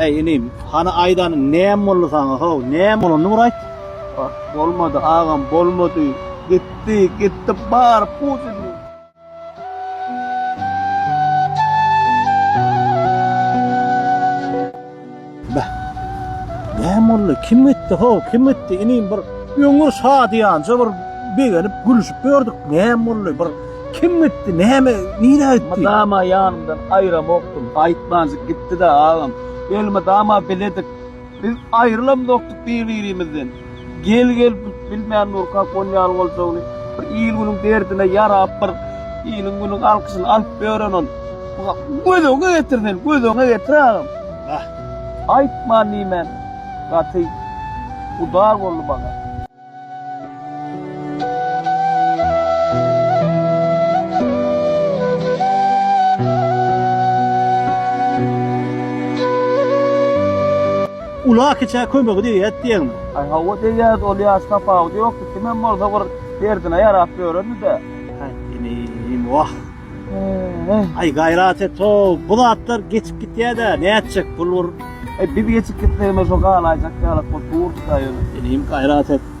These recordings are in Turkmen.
Äý inim, hany aýdanyň näme boldy saňa how, näme bolany bir aýt? Ah, bolmady agam, bolmady. Gitdi, gitdi, bary pudidi. Beh. Näme boldy? Kim gitdi, ho, kim gitdi? Inim bir öňňür şadyýanja bir begenip, gülüşip ýördük. Näme boldy? Bir kim gitdi? Näme, nirä gitdi? Mydama ýanymdan aýramokdym. Aýtmanjyk gitdi-dä, agam. Elmydama biledik. Biz aýrylamzokdyk bir-birimizden. Gel gel bilmän nurkak ol ýaly boljagyny bir il günüň derdine ýarap bir iliň günüň alkyşyny alyp ýören ol göz öňe getir sen göz öňe getir agam aýtman diýmän gaty gudar boldy maňa. Ula kiçä kömegi degýädi diýeňmi? Aý hawa degýärdi ol ýaş tapawudy ýokdy kimem bolsa bir derdine ýarap ýörerdide. Aý inim wah. Aý gaýrat et-ow bu zatlar geçip gitýädä nätjek pul bir. Aý biz geçip gitsegemem şo galaýjak ýalak bolup durdyda ýöne. Inim gaýrat et.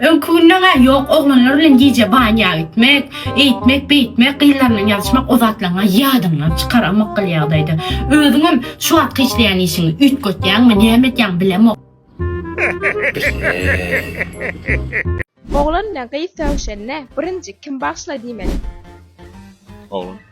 Öňki günleň-ä ýok, oglanlar bilen gije banýa gitmek, eýtmek, beýtmek, gyzlar bilen ýazyşmak o zatlaryň-a ýadyňdan çykar, a mykgul ýagdaýda. Özüňem şu wagtky işleýän işiňi üýtgetýäňmi, näme edýäň bilemok. Bilmeýän. Oglan bilen gyz sögüşende birinji kim bagşla diýmeli? Oglan.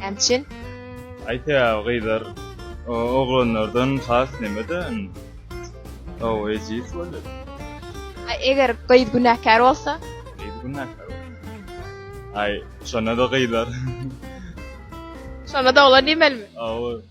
Nätjin? Aýtýa gyzlar oglanlardan has nemede Ow ejiz bolýar. A eger gyz günäkär bolsa? Gyz günäkär bolsa. Aý şonda-da gyzlar. Şonda-da oglan diýmelimi? Ow.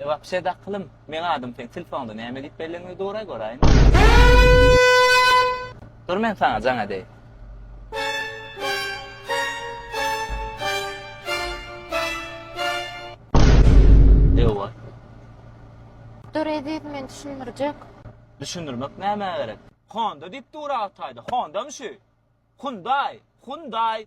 E wapşe daklym meň adym seň tilfoňda näme diýip belleňde duraý göräýin. Dur men saňa jaň edeýin. Ewa. Dur eziz men düşündirjek. Düşündirmek näme gerek? Honda diýip dura Hytaýda. Honda mı şu? Hyundai, Hyundai.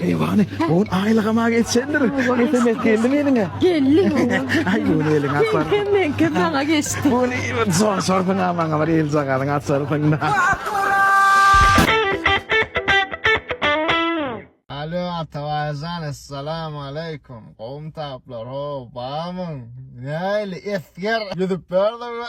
Eýwany, bu gün aýlygam-a geçendir. Sms geldimi eliňe? Geldi. Aý, bu gün eliňe atar. Meňkem, meňkem maňa geçdi. Bu gün bir sorşarsyň-a maňa bir eljagazyňy açarsyň-da. Alo, Atabaý jan, essalam aleýkum. Gowumy taplar, ho, barmyň? Näli, esger? Ýüzüp ber-de bir.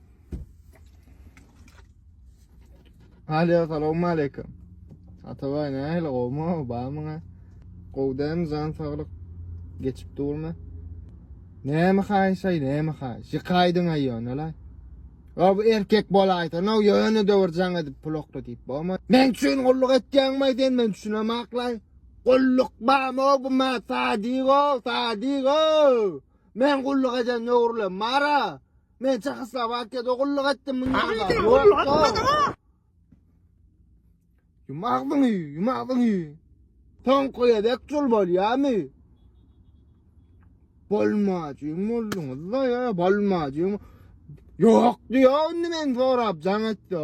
Aliýa salam aleyküm. Atabay nähili gowmy bamyňa? Gowy dämi jan saglyk geçip durmy? Näme haýşaý näme haý? Şikaýdyň aýýan ala. Ya bu erkek bolaýsa, no ýöne döwür jaň edip pul okla diýip bolma. Men üçin gulluk etýäňmi sen men düşünemaklay. Gulluk bamy bu ma sadigo, sadigo. Men gulluk eden döwürlem mara. Men Çehoslowakiýada gulluk etdim muny. Agzyn gulluk etmedi. Kim agzyn ýy, kim agzyn ýy. Sen koýadek çul bolýamy? Bolmajyň bolduňyz-da ýa, bolmajyň. Ýok diýýär indi men sorap jaň etdi.